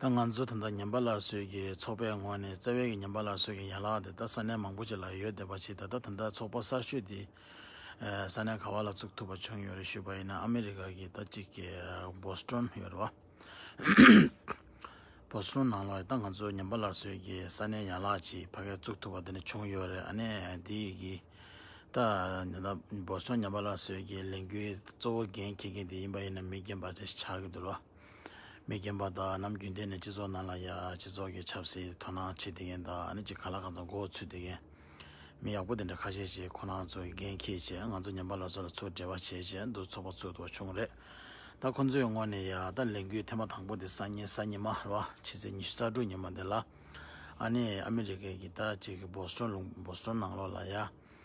ད་ང་ཚོ་ད་ལྟ་ཉམས་པ་སླར་གསོའི་གི་ཚོགས་པའི་ངོས་ནས་རྩ་བའི་གི་ཉམས་པ་སླར་གསོའི་གི་ཡན་ལག་དེ་ད་ས་གནས་མང་པོ་ཅིག་ལ་ཡོད་བསྡད་པ་ཆེ་ད་ལྟ་ད་ལྟ་ཚོགས་པ་གསར་ཤོས་དེ་ས་གནས་ག་བ་ལ་བཙུགས་ཐུབ་པ་བྱུང་ཡོད་རེད་ཞུས་པ་ཡིན་ན་ཨ་མི་རི་ཀ་གི་ད་ཅིག་གི Boston ཡོད་རེད་བ། Boston ནང་ལ་ད་ང་ཚོ་ཉམས་པ་སླར་གསོའི་གི་ས་གནས་ཡན་ལག་ཅིག་ཕ་གས་བཙུགས་ཐུབ་པ་དེ་ནི་བྱུང་ཡོད་རེད་ཨ་ནས་དེ་ཡི་གི་ད Boston ཉམས་པ་སླར་གསོའི་གི་ལས་འགུལ་གཙོ་བོ་འགན་འཁྱེར་མཁན་དེ་ཡིན་པ་ཡིན་ན་མི་རྒན་པ་རེད་ཆགས་གི་འདུག་རེད་བ། མི་རྒན་པ་དག་ནམ་རྒྱུན་གཏན་ནས་སྤྱི་ཚོགས་ནང་ལ་ཡ་སྤྱི་ཚོགས་ཀྱི་ཆབ་སྲིད་དོ་སྣང་བྱེད་བསྡད་མཁན་དག་ནི་ཅི་ག་ལ་གང་ཚོ་མགོ་བོ་ཚུད་བསྡད་མཁན་མི་ཡག་པོ་དེ་འདྲ་ཁ་ཤས་ཤིག་ཁོ་ན་ཚོ་གི་འགན་འཁྱེར་རྗེས་ང་ཚོ་ཉམས་པ་ལ་ཚོ་ལ་ཚུར་འབྲེལ་བ་བྱས་རྗེས་འདུག་ཚོགས་པ་ཚུར་དོ་བྱུང་རེད་ད་ཁོ་ཚོའི་ངོ་ནས་ཡ་ད་ལས་འགུལ་ཐེངས་མ་དང་པོ་དེ་སང་ཉིན་གཟའ་ཉི་མ་རེད་བ་ཕྱི་ཚེས་ཉི་ཤུ་རྩ་དྲུག་ཉིན་མོ་དེ་ལ་ཨ་ནི་ཨ་མི་རི་ཀའི་གི་ད་ཅིག་གི Boston ལུང Boston ནང་ལོགས་ལ་ཡ།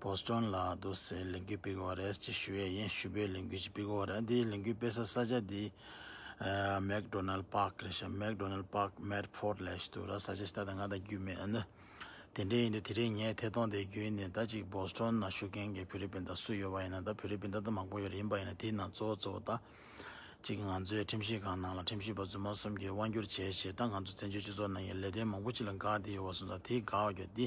བོ་སི་ཀྲོན་ལ་དུ་སའི་ལས་འགུལ་སྤེལ་དགོས་པ་རེད་ཅེས་ཞུ་ཡས་ཡིན་ཞུ་བོའི་ལས་འགུལ་ཅིག་སྤེལ་དགོས་པ་རེད་འདིའི་ལས་འགུལ་སྤེལ་ས་ས་ཆ་འདི་མེག་ཏོ་ནལ་པག་རེད་ཤག་མེག་ཏོ་ནལ་པག་མེད་ཕོར་ལས་ཞེས་འདུག་ར་ས་ཆ་ཞིག་ད་ལྟ་ང་དང་རྒྱུས་མེད་ན་དེ་འདྲས་ཡིན་དུས་དེ་རིང་ངས་ཐད་གཏོང་དེའི་རྒྱུན་ནས་ད་ཅིག་བོ་སི་ཀྲོན་ན་བཞུགས་མཁན་གྱི་བོད་རིགས་སྤུན་ཟླ་སུ་ཡོད་པ་ཡིན་ན་ད་བོད་རིགས་སྤུན་ཟླ་ད་མང་པོ་ཡོད་རེད་ཡིན་པ་ཡིན་ན་དེའི་ནང་གཙོ་བོ་གཙོ་བོ་ད་ཅིག་ང་ཚོའི་ཁྲིམས་ཞིབ་ཁང་ནང་ལ་ཁྲིམས་ཞིབ་པ་རྫུན་མ་གསུམ་གྱིས་དབང་བསྒྱུར་བྱས་ཞེས་ད་ང་ཚོ་བཙན་བྱོལ་སྤྱི་ཚོགས་ནང་གི་ལས་དོན་མང་པོ་ཅིག་ལ་འགག་འདི་ཡོད་བ་སོང་ཙང་དེའི་འགག་རྒྱུ་འདི་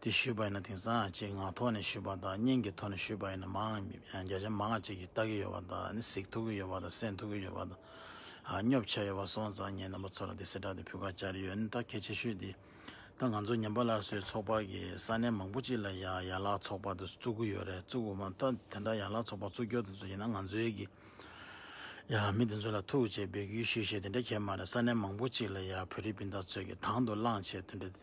དེ་ཞུས་པ་ཡིན་ན་དེང་སང་ཅེས་ངག་ཐོག་ནས་ཞུས་པ་དང་སྙིང་གི་ཐོག་ནས་ཞུས་པ་ཡིན་ན་མང་བརྒྱ་ཆ་མང་ཅིག་གིས་བལྟ་གི་ཡོད་པ་དང་གཟིགས་ཐུབ་ཀྱི་ཡོད་པ་དང་གསན་ཐུབ་ཀྱི་ཡོད་པ་དང་སྙོབ་བྱས་ཡོད་པ་སོང་ཙང་ངས་རྣམ་པ་ཚོ་ལ་དེ་གསལ་བསྒྲགས་དེ་ཕུལ་ཁ་བཅར་ཡོད་ནི་ད་གལ་ཆེ་ཤོས་དེ་ད་ང་ཚོ་ཉན་པ་སླར་གསོའི་ཚོགས་པ་གི་ས་གནས་མང་པོ་ཅིག་ལ་ཡ་ཡ་ལག་ཚོགས་པ་དེ་བཙུགས་ཀྱི་ཡོད་རེད་བཙུགས་དགོས་མ་ད་དེ་འདྲ་ཡ་ལག་ཚོགས་པ་བཙུགས་སྐྱོར་དེ་ཚོ་ཡིན་ན་ང་ཚོའི་གི་ཡ་མི་དེ་ཚོ་ལ་ཐུགས་རྗེ་འབོད་སྐུལ་ཞུས་ཞེས་དེ་འདྲ་ཁྱེད་མ་རེད་ས་གནས་མང་པོ་ཅིག་ལ་ཡ་བོད་རིགས་སྤུན་ཟླ་ཚོས་གི་དང་དུ་བླངས་བྱས་དོན་འདྲ་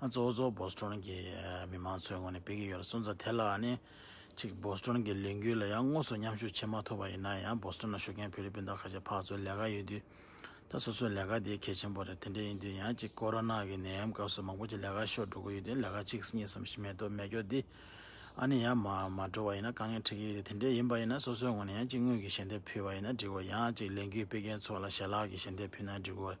གཙོ་བོ་གཙོ་བོ་བོད་སྟོན་གྱི་མི་དམངས་ཚོའི་ངོས་ནས་སྤེལ་གྱི་ཡོད་སོང་ཙང་དེ་ལ་ནི་ཅིག་བོད་སྟོན་གྱི་ལས་འགུལ་ལ་ཡང་དངོས་སུ་མཉམ་ཞུགས་བྱེད་མ་ཐུབ་པ་ཡིན་ན་ཡང་བོད་སྟོན་ལ་ཞུགས་མཁན་བོད་རིགས་སྤུན་ཟླ་ཁ་ཆེ་ཕག་ཚོའི་ལས་ཀ་ཡོད་དུས་ད་སོ་སོའི་ལས་ཀ་དེ་གལ་ཆེན་པོ་རེད་དེ་འདྲ་ཡིན་དུས་ཡང་ཅིག་ཀོ་རོ་ནག་གི་ནད་ཡམས་སྐབས་སུ་མང་པོ་ཅིག་ལས་ཀ་ཤོར་འགྲོ་གི་ཡོད་དུས་ལས་ཀ་གཅིག་གཉིས་གསུམ་བཞི་མེད་དུ་མེད་སྐྱོ་དུས་ཨ་ནི་ཡང་མ་མ་འགྲོ་བ་ཡིན་ན་དཀའ་ངལ་འཕྲད་ཀྱི་ཡོད་དུས་དེ་འདྲ་ཡིན་པ་ཡིན་ན་སོ་སོའི་ངོས་ནས་ཡང་ཅིག་དངུལ་གྱི་ཞལ་འདེབས་ཕུལ་བ་ཡིན་ན་འགྲིག་གོ་ཡང་ཅིག་ལས་འགུལ་སྤེལ་མཁན་ཚོ་ལ་ཞལ་ལག་གི་ཞལ་འདེབས་ཕུལ་ན་འགྲིག་གོ།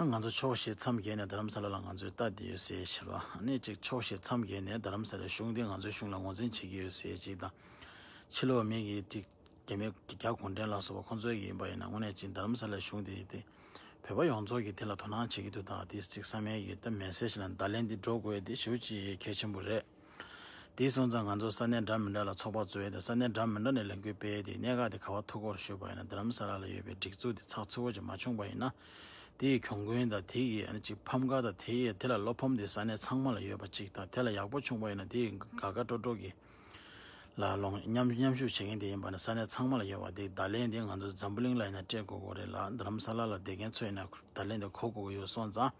ང་ཚོ་ཕྱོགས་ཞེ་མཚམས་བརྒྱད་ནས་རྡ་རམ་ས་ལ་ལ་ང་ཚོའི་ལྟ་དེ་ཡོད་སེ་ཞེས་པ་ནི་གཅིག་ཕྱོགས་ཞེ་མཚམས་བརྒྱད་ནས་རྡ་རམ་ས་ལའི་གཞུང་དེ་ང་ཚོའི་གཞུང་ལ་ངོ་འཛིན་བྱེད་ཀྱི་ཡོད་སེ་གཅིག་དང། ཕྱི་ལོ་བ་མི་གིས་གཅིག་རྒྱ་མི་རྒྱ་གུང་ཁྲན་ལ་སོགས་པ་ཁོ་ཚོའི་ཡིན་པ་ཡིན་ན་དངོས་གནས་གཅིག་རྡ་རམ་ས་ལའི་གཞུང་དེ་ཡིན་ཏེ། བོད་པ་ཡོངས་རྫོགས་ཀྱིས་དེ་ལ་དོ་སྣང་བྱེད་ཀྱི་འདུག་ད་དེ་གཅིག་ས་མའི་ཡུལ་ལྟ་མེད་སེ་ཞེས་ལ་བརྡ་ལན་འདི་འགྲོ་དགོས་ཏེ་ཞུ་ཅི་ཡི་གལ་ཆེན་པོ་རེད། དེའི་སོང་ཙང་ང་ཚོ་ས་གནས་འདྲ་མི་འདྲ་ལ་ཚོགས་པ་གཙོས་ཏེ་ས་གནས་འདྲ་མི་འདྲ་ནས་ལས་འགུལ་སྤེལ་ཏེ་གནད་འགག་དེ་ག་བ་ཐུག་སྐོར་ཞུས་པ་ཡིན་ན་རྡ་རམ་ས་ལ་ལ་ཡོད་པའི་སྒྲིག་འཛུགས་དེ་ཚགས་ཚུད་བོ་ཅིག་མ་བྱུང་པ་ཡིན་ན་དེ་ཡི་གྱོང་གུན་དང་དེ་ཡི་ཨ་ནི་ཅིག་ཕམ་ཁ་དང་དེ་ཡི་དེ་ལ་བློ་ཕམ་དེ་ས་གནས་ཚང་མ་ལ་ཡོད་པ་ཅིག་དང་དེ་ལ་ཡག་པོ་བྱུང་པ་ཡིན་ན་དེ་ཡི་དགའ་དགའ་སྤྲོ་སྤྲོ་གི་ལ་ལོངས་མཉམ་མཉམ་ཞུགས་བྱེད་མཁན་དེ་ཡིན་པ་ནི་ས་གནས་ཚང་མ་ལ་ཡོད་པ་དེ་བརྡ་ལན་དེ་ང་ཚོ་འཛམ་བུ་གླིང་ལ་ཡིན་ན་སྤྲད་དགོས་དགོས་རེད་ལ་རྡ་རམ་ས་ལ་ལ་བསྡད་མཁན་ཚོས་ཡིན་ན་བརྡ་ལན་དེ་གོ་དགོས་ཀྱི་ཡོད་སོང་ཙང།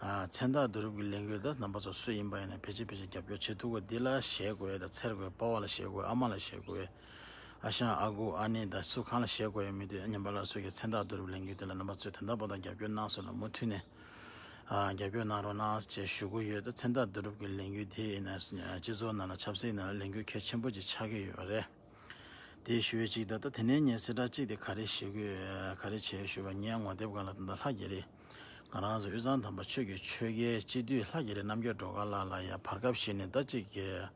མཚན་རྟགས་བསྡུ་རུབ་ཀྱི་ལས་འགུལ་དང་རྣམ་པ་ཚོ་སུ་ཡིན་པ་ཡིན་ན་ཕལ་ཆེར་ཕལ་ཆེར་རྒྱབ་སྐྱོར་བྱེད་ཐུབ་གོ་འདི་ལ་ཞེད་དགོས་དང་འཚེར་དགོས་དཔའ་བོ་ལ་ཞེད་དགོས་ཨ་མ་ལ་ཞེད་དགོས་ཨ་ཞང་ཨ་ཁུ་ཨ་ནེ་དང་སུ་གང་ལ་ཞེད་དགོས་ཡོད་མི་འདུག་ཉམས་པ་སླར་གསོ་གྱི་མཚན་རྟགས་བསྡུ་རུབ་ལས་འགུལ་དེ་ལ་རྣམ་པ་ཚོས་དོན་དམ་པོ་དང་རྒྱབ་སྐྱོར་གནང་སོང་ན་མུ་མཐུད་ནས་རྒྱབ་སྐྱོར་གནང་རོགས་གནང་ཅེས་ཞུ་གི་ཡོད་མཚན་རྟགས་བསྡུ་རུབ་ཀྱི་ལས་འགུལ་དེ་ཡིན་ན་སྤྱི་ཚོགས་ནང་ལ་ཆབ་སྲིད་ནང་ལ་ལས་འགུལ་གལ་ཆེན་པོ་ཅིག་ཆགས་ཀྱི་ཡོད་པ་རེད་དེ་ཞུ་ཡོད་ཅིག་ད་ལྟ་དེ་ནས་ངས་གསལ་བསྒྲགས་གཅིག་དེ་ག་རེ་བྱེད་དགོས་ག་རེ་བྱེད་ཞུ་བ་ངས་ངོ་དེབ་གང་ལ་ད་ལྟ་ལྷག་བརྒྱད་རེ། ང་རང་གཟི་འོད་ཚང་དམ་པ་ཆོས་ཀྱི་ཆོས་རྒྱལ་སྤྱི་བསྡུས་ལྷ་རྒྱལ་རི་རྣམ་རྒྱལ་གྲོ་ག་ལགས་ལ་ཡང་བར་སྐབས་ཤིག་ནས་ཟླ་གཅིག་རྗེས།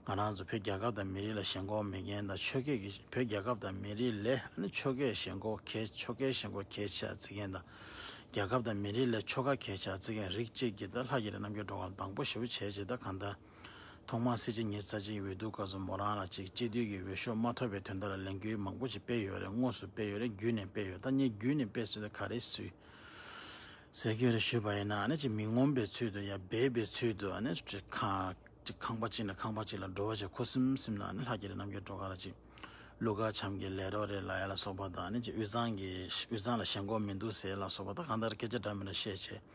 ང་རང་ཚོ་བོད་རྒྱལ་ཁབ་དང་མི་རིགས་ལ་ཞེན་ཁོག་མེད་མཁན་དང་ཆོས་སྐད་ཀྱི་བོད་རྒྱལ་ཁབ་དང་མི་རིགས་ལས་ཆོས་ཁས་ཞེན་ཁོག་གས་ཆོ་གས་ཞེན་ཁོག་གས་ཆ་བརྩི་མཁན་དང། རྒྱལ་ཁབ་དང་མི་རིགས་ལས་ཆོ་ག་གས་ཆ་བརྩི་མཁན་རིགས་གཅིག་གིས་ལྷ་རྒྱལ་རི་རྣམ་རྒྱལ་གྲོ་ག་ལ་དང་པོ་ཞེ་བོ་བྱས་རྗེས་ད་གང་ལྟར། ཐོག་མར་སྲིད་སྤྱི་ཉིད་རྩ་ཆེའི་འོས་བསྡུ་སྐབས་སུ་མོ་རང་ལ་ཅིག་སྤྱི་འཐུས་ཀྱི་འོས་ཤོག་མ་ཐོབ་པའི་དོན་དག་ལ་ལས་འགུལ་མང་པོ་ཞིག་སྤེལ་ཡོད་རེད་དངོས་སུ་སྤེལ་ཡོད་རེད་བརྒྱུད་ནས་སྤེལ་ཡོད་ད་ངས་བརྒྱུད་ནས་སྤེལ་ཟེར་ན་ག་རེ་སུས་ཟེར་རྒྱུ་རེད་ཞུས་པ་ཡིན་ན་ཅིག་མི་ངོམ་པའི་ཚུལ་དུ་ཡང་འབད་པའི་ཚུལ་དུ་ཅིག་ཁང་པ་གཅིག་ནས་ཁང་པ་གཅིག་ལ་འགྲོ་བ་ཆེ་ཁུ་སིམ་སིམ་ལ་ལྷ་རྒྱལ་རི་རྣམ་རྒྱལ་སྒྲོལ་དཀར་ལ་ཅིག་ཀླུ་མཁར་བྱམས་ཀྱི་ལས་རོགས་རེད་ལ་ཡ་ལ་སོགས་པ་དང་ཅིག་དབུས་གཙང་ལ་ཞེན་ཁོག་མི་འདུག་ཟེར་ལ་སོགས་པ་ད་གང་ལྟར་སྐད་ཆ་འདྲ་མི་འདྲ་བཤད་བྱས།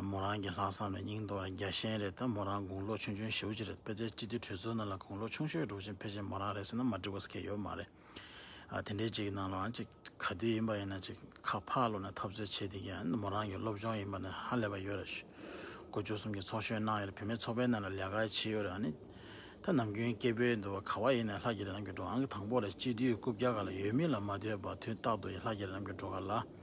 མོ་རང་གི་ལྷག་བསམ་ལ་སྙིང་དོར་བ་རྒྱ་ཞན་རེད་ད་མོ་རང་དགུང་ལོ་ཆུང་ཆུང་ཞེ་བོ་གཅིག་རེད་དཔེ་ཆའི་སྤྱི་འཐུས་གྲོས་ཚོགས་ནང་ལ་དགུང་ལོ་ཆུང་ཤོས་འགྲོ་ཆེན་ཕལ་ཆེར་མོ་རང་རེད་ཟེར་ན་མ་འགྲིག་པ་ཟེར་མཁན་ཡོད་མ་རེད་དེ་འདྲའི་གཅིག་གི་ནང་ལའང་གཅིག་ག་དུས་ཡིན་པ་ཡིན་ན་གཅིག་ཁ་ཕག་བླུག་ནས་འཐབ་རྩོད་བྱེད་དེ་ག་ཡིན་ན་མོ་རང་གི་སློབ་སྦྱོང་ཡིན་པ་ནི་ཧ་ལས་པ་ཡོད་རེད་དགུ་བཅུ་གསུམ་གྱི་ཚོགས་གཞོན་གནང་ཡོད་རེད་བུད་མེད་ཚོགས་པའི་ནང་ལ་ལས་ཀ་བྱེད་ཡོད་རེད་ཨཱ་ནི་ད་ནམ་རྒྱུན་སྐད་འབོད་འདུག་བ་ག་བ་ཡིན་ནའི་ལྷ་རྒྱལ་རི་རང་གི་འགྲོ་ཨང་གི་དང་པོ་ལས་སྤྱི་འཐུས་རྐུབ་བཀྱག་ག་ལ་ཡོད་མི་ལ་མ་ལྟོས་པར་དུས་རྟག་ཏུ་ལྷ་རྒྱལ་རི་རང་གི་འགྲོ་ག་ལ་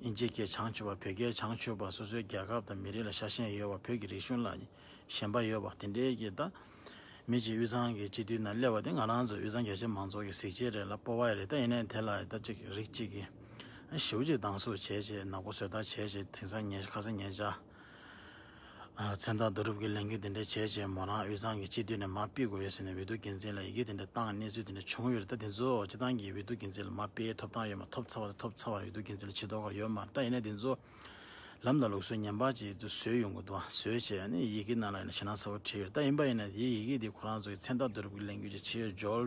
དབྱིན་ཇིའི་སྐད་བྱང་ཆུབ་པ་བོད་སྐད་བྱང་ཆུབ་པ་སོ་སོའི་རྒྱལ་ཁབ་དང་མི་རིགས་ལ་ཤ་ཞེན་ཡོད་བ་བོད་ཀྱི་རིག་གཞུང་ལ་ཞེན་པ་ཡོད་བ་དེ་འདྲའི་སྐད་བཏགས། མི་གཅིག་དབུས་གཙང་གི་སྤྱི་འཐུས་ནང་སླེབས་བ་དེ་ང་རང་ཚོ་དབུས་གཙང་རྒྱལ་གཅེས་མང་ཚོགས་ཀྱི་གཟིགས་ཕྱེ་རེད་ལ་སྤོ་བ་རེད་ད་ཡིན་ནའི་དེ་ལ་ད་ཅིག་རིག་ཅིག་གིས་ཞེའུ་ཅིག་སྡང་ཟུག་བྱས་བྱས་ནག་པོ་བཟོས་ཐག་བྱས་བྱས་དེང་སང་ངས་ཁ་ཟས་ངས་བཅའ། མཚན་རྟགས་བསྡུ་རུབ་ཀྱི་ལས་འགུལ་དེ་འདྲ་བྱས་རྗེས་མོ་རང་དབུས་གཙང་གི་སྤྱི་འཐུས་ནས་མར་སྤེལ་དགོས་ཡོད་ཟེར་ནས་འོས་བསྡུ་རྒྱུ་མཚན་ལ་ཡི་གེ་དེ་འདྲ་བཏང་གནས་ཚུལ་དེ་འདྲ་བྱུང་ཡོད་རེད་ད་དེ་ཚོ་སྤྱི་བཏང་གིས་འོས་བསྡུ་རྒྱུ་མཚན་ལ་མར་སྤེལ་ཐོབ་ཐང་ཡོད་མ་ཐོབ་ཚར་བ་དང་ཐོབ་ཚར་བར་འོས་བསྡུ་རྒྱུ་མཚན་ལ་ཇི་ལྟོ་གར་ཡོད་མ་རེད་ད་ཡིན་ན་དེ་ཚོ་ལམ་དང་ལུགས་སྲོལ་ངན་པ་ཅིག་ཏུ་བཟོས་ཡོང་གི་འདུག་བཟོས་བྱས་ནས་ཡི་གེ་ནང་ལ་ཡིན་ན་ཞེད་སྣང་ཚ་བོ་བྲིས་ཡོད་རེད་ད་ཡིན་པ་ཡིན་ན་དེའི་ཡི་གེ་དེ་ཁོ་རང་ཚོ་གི་མཚན་རྟགས་བསྡུ་རུབ་ཀྱི་ལས་འགུལ་གྱི་ཕྱིར་འཇོལ་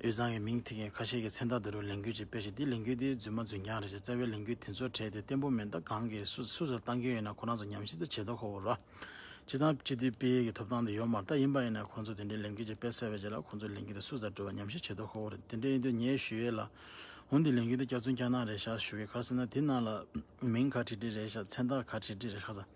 དབུས་གཙང་གི་མིང་ཐིག་མཁན་ཁ་ཤས་ཀྱིས་མཚན་རྟགས་འདི་རུ་ལས་འགུལ་ཅིག་སྤེལ་ཞིང་དེའི་ལས་འགུལ་དེ་རྫུན་མ་རྫུན་རྐྱང་རེད་ཅེས་རྩ་བའི་ལས་འགུལ་དེ་ཚོར་བྲལ་ཏེ་བརྟན་པོ་མེད་མདའ་གང་གིས་སུ་སུ་ཚོར་བཏང་གིན་ཡོད་ན་ཁོ་རང་ཚོ་ཉམས་ཞིབ་ཏུ་བྱེད་དོ་ཁོ་བོ་རོགས་སྤྱི་དང་སྤྱི་འཐུས་སྤེལ་ཡུལ་གྱི་ཐོབ་ཐང་དེ་ཡོག་མར་ལྟ་ཡིན་པ་ཡིན་ན་ཁོང་ཚོ་དེ་འདྲའི་ལས་འགུལ་ཅིག་སྤེལ་གསལ་བའི་རྗེས་ལ་ཁོང་ཚོའི་ལས་འགུལ་དེ་སུ་ཚར་འགྲོ་བའི་ཉམས་ཞིབ་བྱེད་དོ་ཁོ་བོ་རེད་དེ་འདྲ་ཡིན་དུས་ངས་ཞུ་ཡས་ལ་འོ་འདི་ལས་འགུལ་དེ་སྐྱག་རྫུན་སྐྱག་སྣང་རེད་ཤག་ཞུ་གི་གར་སེ་ན་དེ་ནང་ལ་མིང་ག་དྲིས་དྲིས་རེད་ཤག་མཚན་རྟགས་ག་དྲིས་དྲིས་རེད་ཤག་ཚ།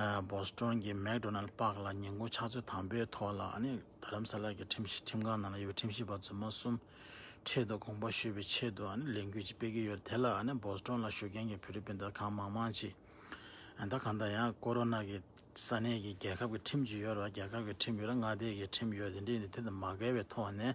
སྦོ་སི་ཀྲོན་གྱི་མེག་དྲོ་ནལ་པགས་ལ་ཉིན་གུང་ཕྱག་ཚོད་དང་པོའི་ཐོག་ལ་དྷ་རམ་ས་ལ་གྱི་ཁྲིམས་ཁང་ནང་ལ་ཡོད་པའི་ཁྲིམས་ཞིབ་པ་རྫུན་མ་གསུམ་འཕྲལ་དུ་དགོངས་པ་ཞུས་པའི་ཆེད་དུ་ལས་འགུལ་ཅིག་སྤེལ་གྱི་ཡོད་རེད་དེ་ལ་སྦོ་སི་ཀྲོན་ལ་བཞུགས་མཁན་གྱི་ཕི་རི་པིན་དར་ཁང་མང་མང་ཅིག་དང་གང་ལྟར་ཡང་ཀོ་རོ་ནཱ་གི་ས་གནས་ཀྱི་རྒྱལ་ཁབ་ཀྱི་ཁྲིམས་ཅིག་ཡོད་རེད་བ་རྒྱལ་ཁབ་ཀྱི་ཁྲིམས་ཡོད་རེད་མངའ་སྡེའི་ཁྲིམས་ཡོད་རེད་འདི་ནི་དེ་དང་མ་འགལ་བའི་ཐོག་ནས་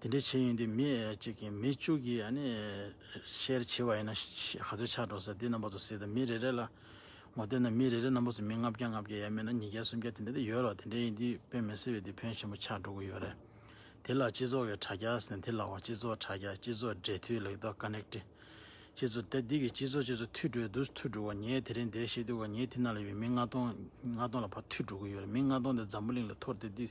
དེ་འདྲའི་བྱེད་ཡུན་དེ་མི་གཅིག་གིས་མི་བཅུ་གིས་ཤེར་བྱེད་པ་ཡིན་ན་ག་ཚོད་ཆགས་འགྲོ་ཟེར་དེ་རྣམ་པ་ཚོ་སྲིད་དང་མི་རེ་རེ་ལ་ངོ་བསྟན་ན་མི་རེ་རེ་རྣམ་པ་ཚོ་མི་ལྔ་བརྒྱ་ལྔ་བརྒྱ་ཡ་མེད་ན་ཉིས་བརྒྱ་སུམ་བརྒྱ་དེ་འདྲ་དེ་ཡོད་རོགས་དེ་འདྲའི་ཡིན་དུས་དཔེ་མི་སྲིད་པའི་དེ་ཕོན་ཆེན་པོ་ཆགས་འགྲོ་གི་ཡོད་རེད་དེ་ལ་སྤྱི་ཚོགས་ཀྱི་དྲ་རྒྱ་ཟེར་ན་དེ་ལའོ་སྤྱི་ཚོགས་དྲ་རྒྱ་སྤྱི་ཚོགས་སྦྲེལ་མཐུད་ལེགས་ཐོག Connected སྤྱི་ཚོགས་དེ་འདི་གི་སྤྱི་ཚོགས་སྤྱི་ཚོགས་མཐུད་འགྲོ་དུས་མཐུད་འགྲོ་བ་ངའི་དེ་རིང་འདས་ཤེས་དུས་ངའི་དེ་ན་ལ་ཡོད་མི་ལྔ་སྟོང་ལྔ་སྟོང་ལ་བར་མཐུད་འགྲོ་གི་ཡོད་རེད་མི་ལྔ་སྟོང་དེ་འཛམ་བུ་གླིང་ལ་འཐོར་དེ་དུས།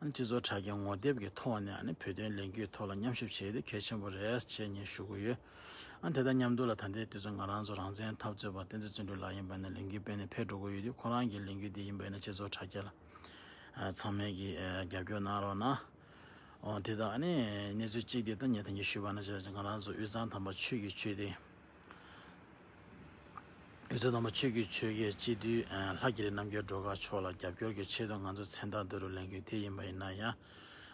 སྤྱི་ཚོགས་དྲ་རྒྱ་ངོ་དེབ་ཀྱི་ཐོག་ནས་བོད་དོན་ལས་འགུལ་ཐོག་ལ་མཉམ་ཞུགས་བྱས་ཏེ་གལ་ཆེན་པོ་རེད་ཅེས་ངས་ཞུ་གི་ཡོད། དེ་དང་མཉམ་དུ་ལ་ད་ལྟའི་དུས་ཚོད་ང་རང་ཚོ་རང་བཙན་འཐབ་རྩོད་པ་བསྟན་འཛིན་བརྩོན་འགྲུས་ལགས་ཡིན་པ་ནས་ལས་འགུལ་སྤེལ་ནས་ཕེབས་འགྲོ་གི་ཡོད་དུས་ཁོ་རང་གི་ལས་འགུལ་འདི་ཡིན་པ་ནས་སྤྱི་ཚོགས་དྲ་རྒྱ་ལ་ཚང་མས་ཀྱིས་རྒྱབ་སྐྱོར་གནང་རོགས་གནང། དེ་དག་གནས་ཚུལ་གཅིག་འདི་ད་ངས་ཐེངས་གཅིག་ཞུས་པ་ན་ང་རང་ཚོ་དབུས་གཙང་དམ་པ་ཆོས་ཀྱི་ཆོས་སྡེ། ཡོད་ཚད་དང་པོ་ཆོས་ཀྱི་ཆོས་རྒྱལ་སྤྱི་འདུས་ལྷ་རྒྱལ་ལས་རྣམ་རྒྱལ་སྒྲོལ་དཀར་མཆོག་ལ་རྒྱབ་སྐྱོར་གྱི་ཆེད་དུ་ང་ཚོ་མཚན་རྟགས་འདི་རུ་ལེན་རྒྱུ་དེ་ཡིན་པ་ཡིན་ན་ཡང།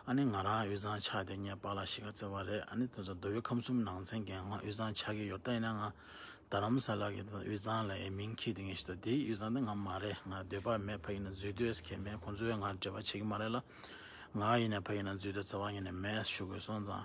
ཨ་ནི་ང་རང་དབུས་གཙང་ཆགས་ཏེ་ངས་པཱ་ལགས་ཤི་ཁ་བརྩེ་བ་རེད་ཨ་ནི་དེ་ཚོ་མདོ་དབུས་ཁམས་གསུམ་ནང་ཚན་གྱི་ང་དབུས་གཙང་ཆགས་ཀྱི་ཡོད་ད་ཡིན་ན་ང་རྡ་རམ་ས་ལ་གི་དབུས་གཙང་ལ་ཡི་མིང་ཁྱི་དེ་ངས་ཤི་ད་དེའི་དབུས་གཙང་དེ་ང་མ་རེད་ང་སྡོད་པ་མེད་ཕ་ཡིན་ན་འཛུལ་སྡོད་ས་ཁེལ་མེད་ཁོང་ཚོའི་ང་འབྲེལ་བ་བྱེད་ཀྱི་མ་རེད་ལ། ང་ཡིན་ནས་ཕ་ཡིན་ན་འཛུལ་སྡོད་རྩ་བ་ཉིད་ནས་མེད་ཞུ་དགོས་སོང་ཙང།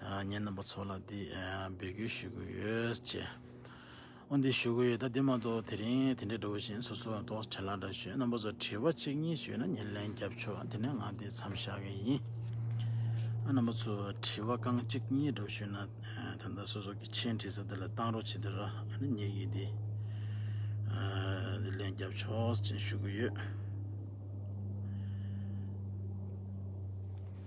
ངའི་རྣམ་པ་ཚོ་ལ་འདི་འབུལ་རྒྱུ་ཞུ་གི་ཡོད་ཅེས། ཨོ་འདི་ཞུ་གི་ཡོད་ད་འདི་མ་གཏོགས་དེ་རིང་དེ་འདྲའི་འགྲོ་བཞིན་སོ་སོའང་ཏོག་དྲན་ལ་འདྲ་ཞོན་རྣམ་པ་ཚོ་དྲི་བ་གཅིག་གཉིས་ཞུས་ན་ཉེར་ལེན་རྒྱབ་ཆོག་དེ་ནས་ང་འདི་མཚམས་བཞག་གི་ཡིན། རྣམ་པ་ཚོ་དྲི་བ་རྐང་གཅིག་གཉིས་འདྲ་བོ་ཞུས་ན་ད་ལྟ་སོ་སོ་གི་མཆན་བྲིས་ས་དེ་ལ་གཏང་རོགས་བྱེད་དེ་ར་ནི་ཉེ་གི་འདི་འདི་ལེན་རྒྱབ་ཆོག་ཅེས་ཞུ་གི་ཡོད།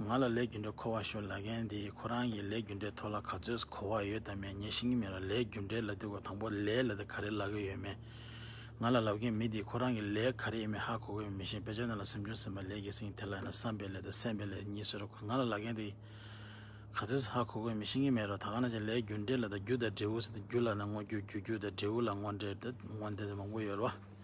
ང་ལ་ལས་རྒྱུ་འབྲས་མཁོ་བ་ཤོར་ལ་མཁན་དེས་ཁོ་རང་གི་ལས་རྒྱུ་འབྲས་ཐོག་ལ་ག་ཚོད་གོ་བ་ཡོད་དམ་མེད་ངས་ཤེས་ཀྱི་མེད་ལ་ལས་རྒྱུ་འབྲས་ལ་དེ་གོ་དང་པོ་ལས་ལ་དེ་ག་རེ་ལབ་ཀྱི་ཡོད་མེད་ང་ལ་ལབ་མཁན་མི་དེས་ཁོ་རང་གི་ལས་ག་རེ་ཡིན་མིན་ཧ་གོ་དགོས་མིན་ཞེས་དཔེ་ཆ་རྣམས་ལ་སེམས་ཆུང་སེམས་པ་ལས་ཀྱིས་ཟིན་གྱི་དེ་ལ་ཡང་ན་བསམ་པའི་ལས་དང་སེམས་པའི་ལས་གཉིས་ཟེར་རོ་ང་ལ་ལབ་མཁན་དེས་ག་ཚོད་ཧ་གོ་དགོས་མིན་ཤེས་ཀྱི་མེད་རོ་ད་ག་ན་བྱས་ལས་རྒྱུ་འབྲས་ལ་དང་རྒྱུ་དང་འབྲས་བུ་ཟེར་ཏེ་རྒྱུ་ལ་ན་དངོས་རྒྱུ་རྒྱུ་རྒྱུ་དང་འབྲས་བུ་ལ་དངོས་འབྲས་དངོས་འབྲས་དེ་མང་པོ་ཡོད་རེད་བ།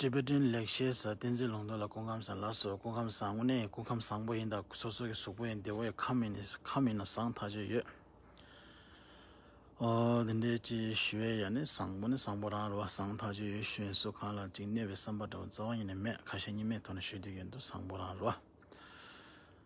Tibetan ལེགས་བཤད་ས་བསྟན་འཛིན་ལུང་རྟོགས་ལ་སྐུ་ཁམས་བཟང་ལ་སོགས་སྐུ་ཁམས་བཟང་ངོ་ནས་སྐུ་ཁམས་བཟང་པོ་ཡིན་དང་སོ་སོ་གི་གཟུགས་པོ་ཡིན་འདི་བོད་ཁམས་ཡིན་ནས་ཁམས་ཡིན་ན་བཟང་ཐག་ཆོད་ཡོད། ཨོ། འདི་འདྲའི་ཅི་ཞུ་བའི་ཡ་ནི་བཟང་པོ་ནི་བཟང་པོ་རང་རེད་བ་བཟང་ཐག་ཆོད་ཡོད་ཞུ་ཡིན་སུ་གང་ལ་ཅིག་གནས་པའི་བསམ་པ་འདྲ་བོ་རྩ་བ་ཉིད་ནས་མེད་ཁ་ཞེ་གཉིས་མེད་ཐོག་ནས་ཞུ་དུས་ཡོད་འདུག་བཟང་པོ་རང་རེད་བ།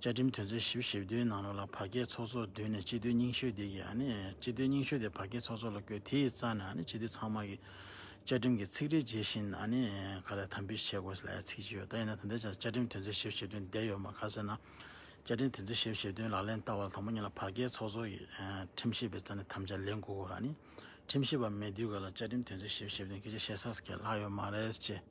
བཅའ་ཁྲིམས་དོན་ཚན་ཞེ་བཞི་ཞེ་བདུན་ནང་ལོགས་ལ་བར་བརྒལ་ཚོགས་གཙོ་བདུན་ནས་སྤྱི་འཐུས་རྙིང་ཤོས་དེ་ཡིས་སྤྱི་འཐུས་རྙིང་ཤོས་དེ་བར་བརྒལ་ཚོགས་གཙོ་ལ་བསྐོས་དེའི་རྩ་ནས་སྤྱི་འཐུས་ཚང་མ་གིས་བཅའ་ཁྲིམས་ཀྱི་ཚིག་རེ་ཇི་བཞིན་ག་ལེར་དམ་འབུལ་བྱེད་དགོས་ཟེར་ལས་ཚིག་ཅི་ཡོད་ད་ཡིན་ན་ད་ལྟའི་ཆར་བཅའ་ཁྲིམས་དོན་ཚན་ཞེ་བཞི་ཞེ་བདུན་བསྡད་ཡོད་མ་ག་ཟེར་ན། བཅའ་ཁྲིམས་དོན་ཚན་ཞེ་བཞི་ཞེ་བདུན་ལག་ལེན་བསྟར་བ་ལ་དང་པོ་གཉིས་ལ་བར་བརྒལ་ཚོགས་གཙོ་གིས་ཁྲིམས་ཞིབ་པའི་རྩ་ནས་དམ་བཅའ་ལེན་དགོས་སྐོར་ཁྲིམས་ཞིབ་པ་མེད་དུས་ག་ལ་བཅའ་ཁྲིམས་དོན་ཚན་ཞེ་བཞི་ཞེ་བདུན་སྐད་ཆ་བཤད་ས་སུ་གས་ལྷག་ཡོད་མ་རེད་ཅེས།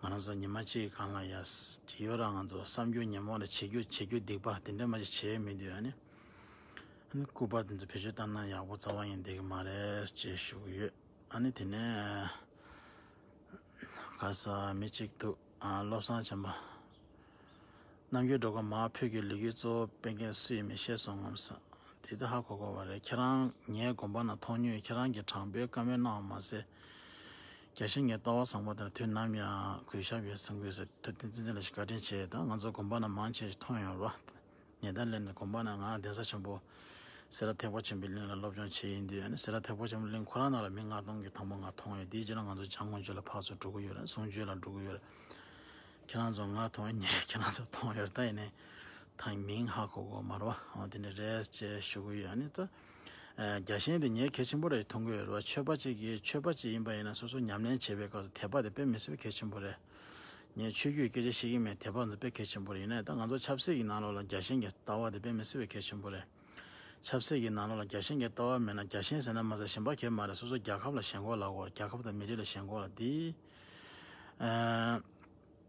ང་རང་ཚོ་ཉི་མ་གཅིག་གི་གང་ལ་ཡ་ཇི་ཡོད་ར་ང་ཚོ་བསམ་རྒྱུ་ཉིན་མོ་ར་བྱེད་རྒྱུ་བྱེད་རྒྱུ་སྡིག་པ་དེ་འདྲ་མ་གཅིག་བྱེད་མི་འདོད་ཡ་ནི་ཨ་ནི་སྐུ་པར་དེ་ཚོ་བེད་སྤྱོད་བཏང་ན་ཡག་པོ་རྩ་བ་ཡིན་བསྡད་གི་མ་རེད་ཅེས་ཞུ་གི་ཡོད་ཨ་ནི་དེ་ནས་ག་ས་མི་གཅིག་འདུག་ཨ་བློ་བཟང་བྱམས་པ་རྣམ་རྒྱལ་འགྲོ་ཀ་མ་བོད་ཀྱི་ལོ་རྒྱུས་གཙོ་བོ་སྤེལ་མཁན་སུ་ཡིན་མི་ཤེས་སོང་ངམ་ས་དེ་ད་ཧ་གོ་གོ་བ་རེད་ཁྱེད་རང་ངའི་དགོངས་པ་ན་མཐོང་ཉུལ་ཁྱེད་རང་གི་དྲང་པོའི་བཀའ་མོལ་གནང་བ་མ་ཟད། རྒྱ་ཆེན་ངའི་ལྟ་བ་བཟང་པོ་དང་དུས་ནམ་ཡང་གུས་ཞབས་ཡོད་བསམ་གུས་ཟེར་ཐུབ་བསྟན་འཛིན་ཚེ་ལ་ཞིག་བཀའ་དྲིན་ཆེ་དང་ང་ཚོ་གོམ་པ་ན་མང་ཆེ་ཞིག་མཐོང་ཡོང་རོགས། ཉེ་ད་ལན་གོམ་པ་ན་ང་གདན་ས་ཆེན་པོ་སེ་ར་ཐེག་པ་ཆེན་པོའི་གླིང་ལ་སློབ་སྦྱོང་བྱེད་ཡིན་དུས་སེ་ར་ཐེག་པ་ཆེན་པོའི་གླིང་ཁོ་རང་ནང་ལ་མི་ལྔ་སྟོང་གི་དང་པོ་ང་མཐོང་ཡོད་དེའི་རྗེས་ལ་ང་ཚོ་བྱང་ཀོང་ཆོས་ལ་ཕག་ཚོ་དྲུག་གུ་ཡོད་རེད་ཟུང་ཆོས་ལ་དྲུག་གུ་ཡོད་རེད་ཁྱེད་རང་ཚོ་ང་མཐོང་ཡོད་ངས་ཁྱེད་རང་ཚོ་མཐོང་ཡོད་རེད་ད་ཡིན་ནའི་ཐང་མིང་ཧ་གོ་གོ་མ་རོགས་འོ་དེ་ནས་རེད་ཅེས་ཞུ་གི་ཡོད་ཨ་ནི་ད། རྒྱ་ཞེན་དེ་ཉེས་གལ་ཆེན་པོ་རེད་མཐོང་གི་ཡོད་རེད་བ་ཆོས་པ་གཅིག་གིས་ཆོས་པ་གཅིག་ཡིན་པ་ཡིན་ན་སོ་སོ་ཉམས་ལེན་བྱེད་པའི་སྐབས་སུ་དད་པ་དེ་དཔེ་མི་སྲིད་པ་གལ་ཆེན་པོ་རེད། ངས་ཆོས་བརྒྱུད་སྐད་ཆ་བཤད་ཀྱིན་མེད་དད་པ་ཚོ་དཔེ་གལ་ཆེན་པོ་རེད་ཡིན་ནའི་ད་ང་ཚོ་ཆབ་སྲིད་ཀྱི་ནང་ལོགས་ལ་རྒྱ་ཞེན་གྱི་ལྟ་བ་དེ་དཔེ་མི་སྲིད་པ་གལ་ཆེན་པོ་རེད། ཆབ་སྲིད་ཀྱི་ནང་ལོགས་ལ་རྒྱ་ཞེན་གྱི་ལྟ་བ་མེད་ན་རྒྱ་ཞེན་ཟེར་ན་མ་ཟད་ཞེན་པ་གལ་མ་རེད་སོ་སོ་རྒྱལ་ཁབ་ལ་ཞེན་གོ་ལ་གོ་རྒྱལ་ཁབ་དང་མི་རིགས་ལ་ཞེན་གོ་ལ་འདི།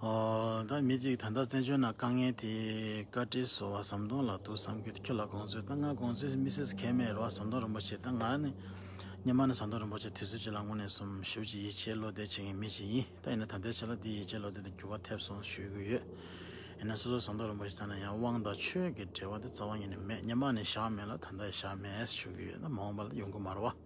ད་མི་གཅིག་ད་ལྟ་བཙན་བྱོལ་ནང་དཀའ་ངལ་དེ་བཀའ་ཁྲིའི་བཟོ་བ་ཟམ་གདོང་ལགས་འདུག་བསམ་གི་ཁྱོད་ལ་དགོངས་ཚུལ་ད་ང་དགོངས་ཚུལ་མི་སེར་ཁས་མེད་རེད་བ་ཟམ་གདོང་རིན་པོ་ཆེ་ད་ང་ནི་ཉི་མ་ནི་ཟམ་གདོང་རིན་པོ་ཆེ་དུས་ཚོད་ཅིག་ལ་སྔོན་ནས་སོམ་ཞུ་གྱི་ཡིད་ཆེས་བློ་བདེ་བྱེད་མཁན་མི་ཞིག་ཡིན་ད་ཡིན་ན་ད་ལྟའི་ཆ་ལ་འདིའི་ཡིད་ཆེས་བློ་བདེ་དེ་འགྱུར་བ་ཐེབས་སོང་ཞུ་གི་ཡོད་ཡིན་ན་སོ་སོ་ཟམ་གདོང་རིན་པོ་ཆེ་ཚང་ན་ཡང་དབང་དང་ཆོས་ཀྱི་འབྲེལ་བ་དེ་རྩ་བ་ཉིད་ནས་མེད་ཉི་མ་ནི་བཞག་མེད་ལ་ད་ལྟ་ཡང་བཞག་མེད་ཞུ་གི་ཡོད་ད་མ་འོངས་པ་ལ་ཡོང་གི་མ་རེད་བ།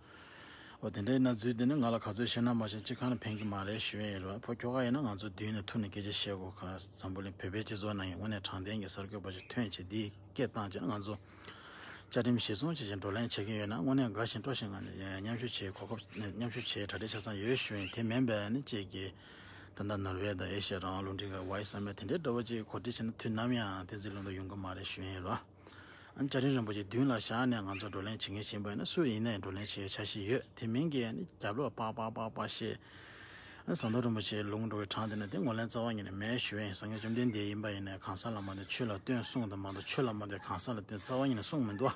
འོ་དེ་འདྲའི་ན་ཟུག་དེ་ནི་ང་ལ་ག་ཚོད་བཤད་ན་མ་བཤད་ཅི་གང་ནས་ཕན་གྱི་མ་རེད་ཞུ་ཡས་ཡོད་ལ་ཕོ་ཁྱོ་ག་ཡིན་ན་ང་ཚོ་མདུན་ནས་ཐུག་ནས་སྐད་ཆ་བཤད་དགོས་ག་འཛམ་བུ་གླིང་བོད་པའི་སྤྱི་ཚོགས་ནང་ཡང་དངོས་གནས་དྲང་བདེན་གྱི་གསར་འགོད་པ་ཞིག་ཐོན་ཆེད་འདིའི་སྐད་བཏང་རྗེས་ང་ཚོ་བཅའ་ཁྲིམས་གཞིར་བཟུང་བྱེད་ཅིང་བགྲོ་གླེང་བྱེད་མཁན་ཡོད་ན་དངོས་གནས་དགའ་ཞིང་སྤྲོ་ཞིང་ང་ནི་མཉམ་ཞུགས་བྱེད་གོ་སྐབས་མཉམ་ཞུགས་བྱེད་གྲ་སྒྲིག་ཆ་ཚང་ཡོད་ཞུ་ཡས་དེ་མིན་པས་ནི་ཅེས་བགྱིས། ད་ལྟ་ནོར་ཝེ་དང་ཨེ་ཤི་ཡ་རང་དབང་རླུང་འཕྲིན་ཁང་ཝཱི་སམ་མེད་དེ་འདྲའི་སྒྲོ་བ་གཅིག་གིས་གོ་སྒྲིག་བྱས་ན་དུས་ནམ་ཡང་དེ་འཛིན་ལུགས་འདི་ཡོང་གི་མ་རེད་ཞུ་ཡས་ཡོད་ལ། ཨཱ། བྱ་རིན་རིན་པོ་ཆེ་མདུན་ལ་བཞག་ནས་ང་ཚོ་བགྲོ་གླེང་བྱེད་མཁན་ཆེན་པོ་ཡིན་ན་སུ་ཡིན་ནས་བགྲོ་གླེང་བྱེད་བྱ་བཞིན་ཡོད་དེ་མིན་གྱི་རྒྱབ་ལོག་པགས་པགས་པགས་པགས་བཤད། ཟམ་གདོང་རིན་པོ་ཆེའི་ལུང་འགྲོ་བའི་གྲངས་དེ་ནི་དེ་ངོ་ལེན་རྩ་བ་ཉིད་ནས་མེད་ཞུ་ཡིན་སངས་རྒྱས་བཅོམ་ལྡན་འདས་ཡིན་པ་ཡིན་ནས་གང་ཟག་ལ་མ་འདོད་ཆོས་ལ་སྟོན་གསུངས་དང་མ་འདོད་ཆོས་ལ་མ་འདོད་གང་ཟག་ལ་སྟོན་རྩ་བ་ཉིད་ནས་གསུངས་མི་འདུག།